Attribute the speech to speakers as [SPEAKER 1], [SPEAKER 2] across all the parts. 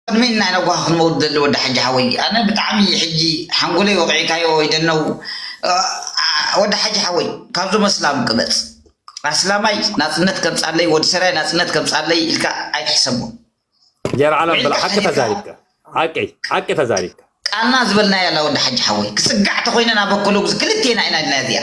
[SPEAKER 1] ቅድሚ ናይ ነጓ ክንመውት ዝደሊ ወዲ ሓጂ ሓወይ ኣነ ብጣዕሚ እዪ ሕጂ ሓንጎለይ ወቂዕካዮ ወይ ደነው ኣኣ ወዲ ሓጂ ሓወይ ካብዞም ኣስላም ቅበጽ ኣስላማይ ናጽነት ከምጻለይ ወዲ ሰራይ ናጽነት ከምጻለይ ኢልካ ኣይትሕሰቦ ጀር ዓለም
[SPEAKER 2] ብላ ሓቂ ተዛሪብካ ሓቂ ሓቂ ተዛሪብካ ቃልና ዝበልናያ
[SPEAKER 1] ኣላ ወዲ ሓጂ ሓወይ ክጽጋዕ ተኮይነ ናበከሎጉዝ ክልቴና ኢና ኢልና እዚኣ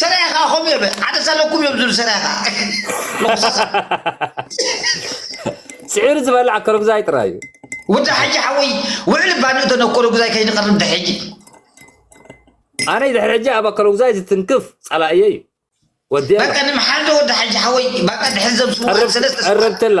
[SPEAKER 2] ሰራያ ከዓ
[SPEAKER 1] ከምኡ እዮም ሓደ ዘለኩም እዮም ዝብሉ ሰራያ ከዓ
[SPEAKER 2] ስዒሩ ዝበልዓ ከረጉዛይ ጥራይ እዩ ወዲ ሓጂ
[SPEAKER 1] ሓወይ ውዕሊ ባንኡ ተነኮረጉዛይ ከይንቐርብ ድሕጂ
[SPEAKER 2] ኣነ ድሕሪ ሕጂ ኣብ ኣከረጉዛይ ዝትንክፍ ጸላእየ እዩ ወዲ በቃ ንምሓልዶ
[SPEAKER 1] ወዲ ሓጂ ሓወይ በቃ ድሕሪ ዘምስሉ ሰለስተ ቀረብትላ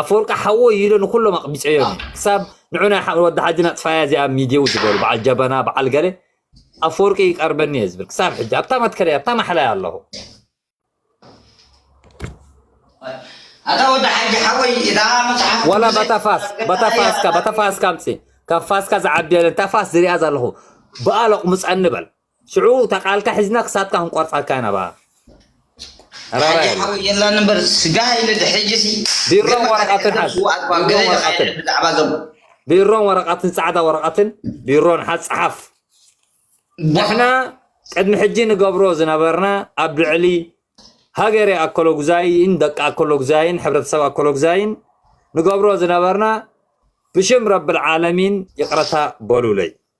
[SPEAKER 2] ኣፈወርቂ ሓወይ ኢለ ንኩሎም ኣቕቢጸዮም እየ ክሳብ ንዑ ናይ ሓ- ወዲ ሓጂ ናጥፋያ እዚኣ ሚድየው ዝበሉ በዓል ጀበና በዓል ገለ ኣፈወርቂ ይቀርበኒ እየ ዝብል ክሳብ ሕጂ ኣብታ መትከለይ ኣብታ ማሕላይ ኣለኹ
[SPEAKER 1] ኣታ ወዲ ሓጂ ሓወይ እታ መጽሓፍ ዋላ ቅዱሰይ ባታ ፋስ
[SPEAKER 2] ባታ እያ ፋስካ ባታ ፋስካ ኣምጽ ካብ ፋስካ ዝዓቢ የለን እታ ፋስ ዝሪኣ ዘለኹ ብኣ ለቑምፀኒ በል ሽዑ እታ ቃልካ ሒዝና ክሳድካ ክንቆርጻካ ኢና በኣ ሓጂ
[SPEAKER 1] ሓወይ የላን እምበር ስጋ ኢለ ድሕጂ ሲ ቢሮን ወረቀትን
[SPEAKER 2] ሓዝ ቢሮን ወረቀትን ብዛዕባ ዞም ቢሮን ወረቀትን ጻዕዳ ወረቀትን ቢሮን ሓዝ ጽሓፍ ንሕና ቅድሚ ሕጂ ንገብሮ ዝነበርና ኣብ ልዕሊ ሃገረ ኣኮሎጉዛይን ደቂ ኣኮሎጉዛይን ሕብረተሰብ ኣኮሎጉዛይን ንገብሮ ዝነበርና ብሽም ረብል ዓለሚን ይቕረታ በሉለይ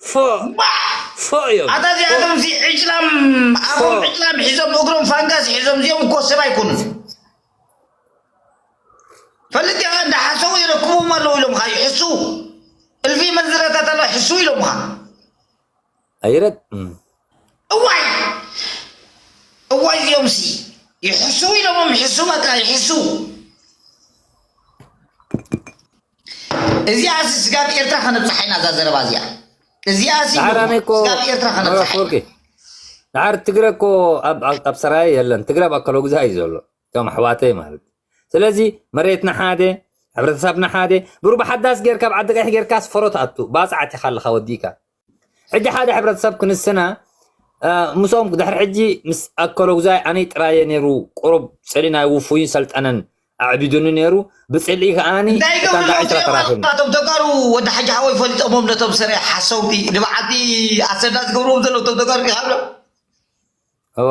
[SPEAKER 2] ፎእ ፎእ እዮም ኣታ እዚኣቶም ሲ
[SPEAKER 1] ዕጭላም ኣፎም ዕጭላም ሒዞም እግሮም ፋንጋስ ሒዞም እዚኦም እኮ ሰብ ኣይኮኑን ፈልጥ ያኸ እንዳሓሰቡ ይረክቡም ኣለዉ ኢሎምኻ ይሕሱ እልፊ መንዝረታት ኣሎ ሕሱ ኢሎምኻ
[SPEAKER 2] ኣይረግ
[SPEAKER 1] እዋይ እዋይ እዚኦም ሲ ይሕሱ ኢሎሞም ሕሱ በቃ ይሕሱ እዚኣ ሲ ስጋብ ኤርትራ ከነብጽሓ ኢና እዛ ዘረባ እዚኣ እዚኣ ሲ ደሓር ኣነ እኮ ስጋብ ኤርትራ ከነብጽሓ ኢና ወርቂ ደሓር
[SPEAKER 2] ትግረ እኮ ኣብ ኣብ- ኣብ ሰራየ የለን ትግረ ኣብ ኣከሎ ግዛ እዩ ዘሎ እቶም ኣሕዋተይ ማለት እዩ። ስለዚ መሬትና ሓደ ሕብረተሰብና ሓደ ብሩብ ሓዳስ ጌርካ ኣብ ዓዲ ቀይሕ ጌርካስ ፈሮ ትኣቱ ባፅዓት ኢኻ ኣለኻ ወዲእካ ሕጂ ሓደ ሕብረተሰብ ክንስና ምስኦም ድሕሪ ሕጂ ምስ ኣከሎጉዛይ ኣነይ ጥራየ ነይሩ ቁሩብ ጽሊ ናይ ውፉይን ሰልጠነን ኣዕቢዱኒ ነይሩ ብጽልኢ ከኣኒ እንታይ እታ ይገብሩ ጋዕሽ ዞም ተራኺብኒ ጀነራላት እቶም ተጋሩ ወዲ
[SPEAKER 1] ሓጂ ሓወይ ፈሊጦሞም ነቶም ሰረ ሓሰውቲ ንበዓልቲ ኣሰና ዝገብርዎም ዘለዉ እቶም ተጋሩ ዲኻ እብሎም
[SPEAKER 2] እወ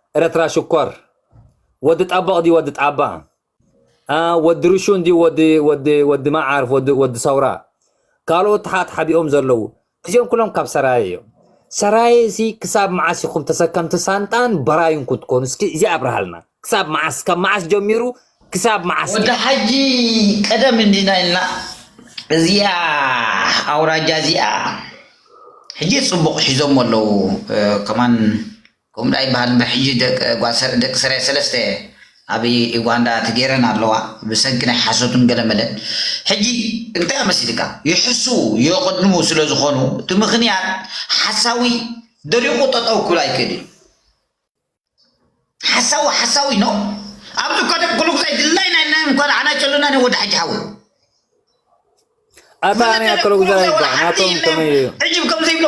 [SPEAKER 2] ኤረትራ ሽኮር ወዲ ጠቦቕ ድዩ ወዲ ጣባ እ ወዲ ርሹን ድዩ ወዲ ወዲ ወዲ መዓርፍ ወዲ ወዲ ሰውራ ካልኦት ተሓትሓቢኦም ዘለዉ እዚኦም ኩሎም ካብ ሰራየ እዮም ሰራየ እዚ ክሳብ መዓስ ኢኹም ተሰከምቲ ሳንጣን በራዩን ክትኮኑ እስኪ እዚ ኣብርሃልና ክሳብ መዓስ ካብ መዓስ ጀሚሩ ክሳብ መዓስ ወዲ ሓጂ
[SPEAKER 1] ቀደም እንዲና ኢልና እዚኣ ኣውራጃ እዚኣ ሕጂ ጽቡቕ ሒዞሞ ኣለዉ ከማን ከምኡ ዶ ኣይበሃልን ዶ ሕጂ ደቂ ጓል ደቂ ሰራየ ሰለስተ ኣብ ኢጓንዳ ተገይረን ኣለዋ ብሰንኪ ናይ ሓሶትን ገለመለን ሕጂ እንታይ እዮ መሲልካ ይሕስዉ የቀድሙ ስለ ዝኮኑ እቲ ምክንያት ሓሳዊ ደሪቁ ጠጠው ክብል ኣይክእል እዩ ሓሳዊ ሓሳዊ ኖ ኣብዚ እኳ ደቂ ኩሉ ግዛይ ድላይ ናይ ናይ እንኳ ኣና ጨሉና ናይ ወዲ ሓጂ ሓዊ
[SPEAKER 2] ኣታ ናይ ኩሉ ግዛይ ናቶም ከመይ እዩ ሕጂ ከምዘይብሎ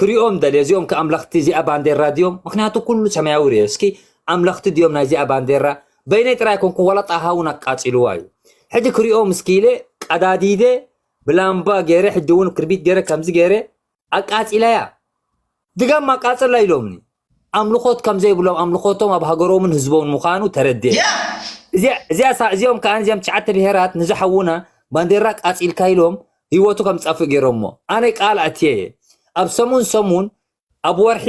[SPEAKER 2] ክሪኦም ደልየ እዚኦም ከ ኣምለኽቲ እዚኣ ባንዴራ ድዮም ምክንያቱ ኩሉ ሰማያዊ ርየ እስኪ ኣምለኽቲ ድዮም ናይዚኣ ባንዴራ በይነይ ጥራይ ኮንኩ ዋላ ጣሃ እውን ኣቃጺልዋ እዩ ሕጂ ክሪኦም እስኪ ኢለ ቀዳዲደ ብላምባ ገይረ ሕጂ እውን ክርቢት ገይረ ከምዚ ገይረ ኣቃጺለያ ድጋም ኣቃጽላ ኢሎምኒ ኣምልኾት ከም ዘይብሎም ኣምልኾቶም ኣብ ሃገሮምን ህዝቦምን ምዃኑ ተረድኤ። እዚኦም ከኣ እዚኦም ትሽዓተ ብሄራት ንዚ ሓውና ባንዴራ ኣቃጺልካ ኢሎም ህይወቱ ከም ዝጠፍእ ገይሮሞ። ኣነ ቃል ኣትየ እየ ኣብ ሰሙን ሰሙን ኣብ ወርሒ